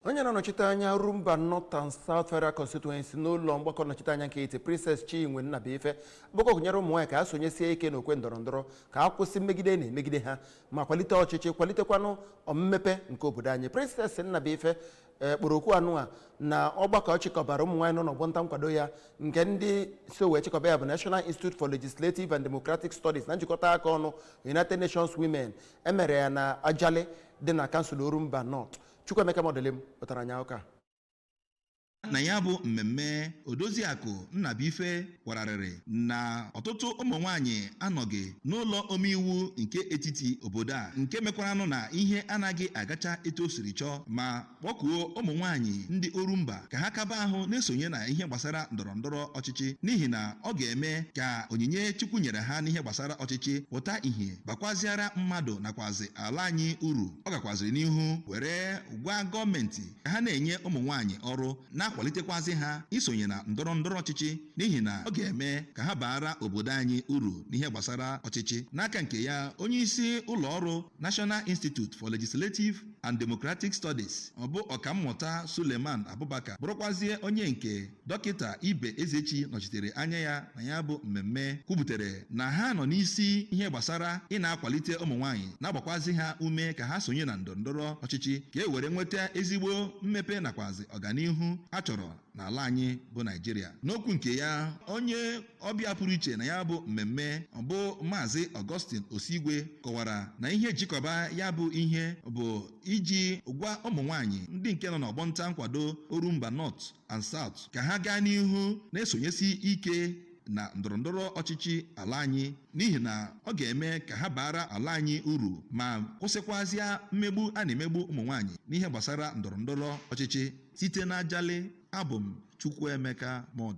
onye na-anọchite anya orumba north and south federal constituency n'ụlọ mgbakọ nnọchite anya nke etiti princess chinwe nnabuife bụkọ gụnyere ụmụ nwaanyị ka ha sonyesie ike n'okwe ndọrọ ndọrọ ka a kwụsị mmegide a na-emegide ha ma kwalite ọchịchị kwalitekwanụ mmepe nke obodo anyị princess nnabuife ee kpọrọ oku anụ a na ọgbakọ a chịkọbara ụmụ nwaanyị nọ n'ọgbọ nta nkwado ya nke ndị so wee chịkọba ya bụ national institute for legislative and democratic studies na njikọta aka ọnụ united nations women e mere ya na ajali dị na kansụl orumba north Chukwuemeka Modilim wetara anyị akụkọ a na ya bụ mmemme odoziakụ nnabuife kwararịrị na ọtụtụ ụmụ nwanyị anọghị n'ụlọ omeiwu nke etiti obodo a nke mekwaranụ na ihe anaghị agacha etu o siri chọọ ma kpọkuo ụmụ nwanyị ndị orumba ka ha kaba ahụ na-esonye na ihe gbasara ndọrọ ndọrọ ọchịchị n'ihi na ọ ga-eme ka onyinye chukwu nyere ha n'ihe gbasara ọchịchị pụta ìhè bakwaziara mmadụ nakwazi ala anyị uru ọ gakwaziri n'ihu were gwa gọọmenti ka ha na-enye ụmụ nwaanyị ọrụ na-akwalitekwazị ha isonye na ndọrọ ndọrọ ọchịchị n'ihi na ọ ga-eme ka ha baara obodo anyị uru n'ihe gbasara ọchịchị n'aka nke ya onye isi ụlọ ọrụ National Institute for Legislative and Democratic Studies ọ bụ ọkammụta Suleiman Abubakar bụrụkwazie onye nke dọkịta ibe ezechi nọchitere anya ya na ya bụ mmemme kwuputere na ha nọ n'isi ihe gbasara ị na-akwalite ụmụ nwaanyị na-agbakwazị ha ume ka ha sonye na ndọrọndọrọ ọchịchị ka e were nweta ezigbo mmepe nakwazi ọganihu a chọrọ n'ala anyị bụ naịjirịa n'okwu nke ya onye ọbịa pụrụ iche na ya bụ mmemme bụ maazị augustine osigwe kọwara na ihe e ji chịkọba ya bụ ihe bụ iji gwa ụmụ nwaanyị ndị nke nọ n'ọgbọ nta nkwado orumba north and South ka ha gaa n'ihu na-esonyesi ike na ndọrọndọrọ ọchịchị ala anyị n'ihi na ọ ga-eme ka ha baara ala anyị uru ma kwụsịkwazịa mmegbu a na-emegbu ụmụ nwaanyị n'ihe gbasara ndọrọndọrọ ọchịchị site n'Ajali abụ m Chukwuemeka Modilim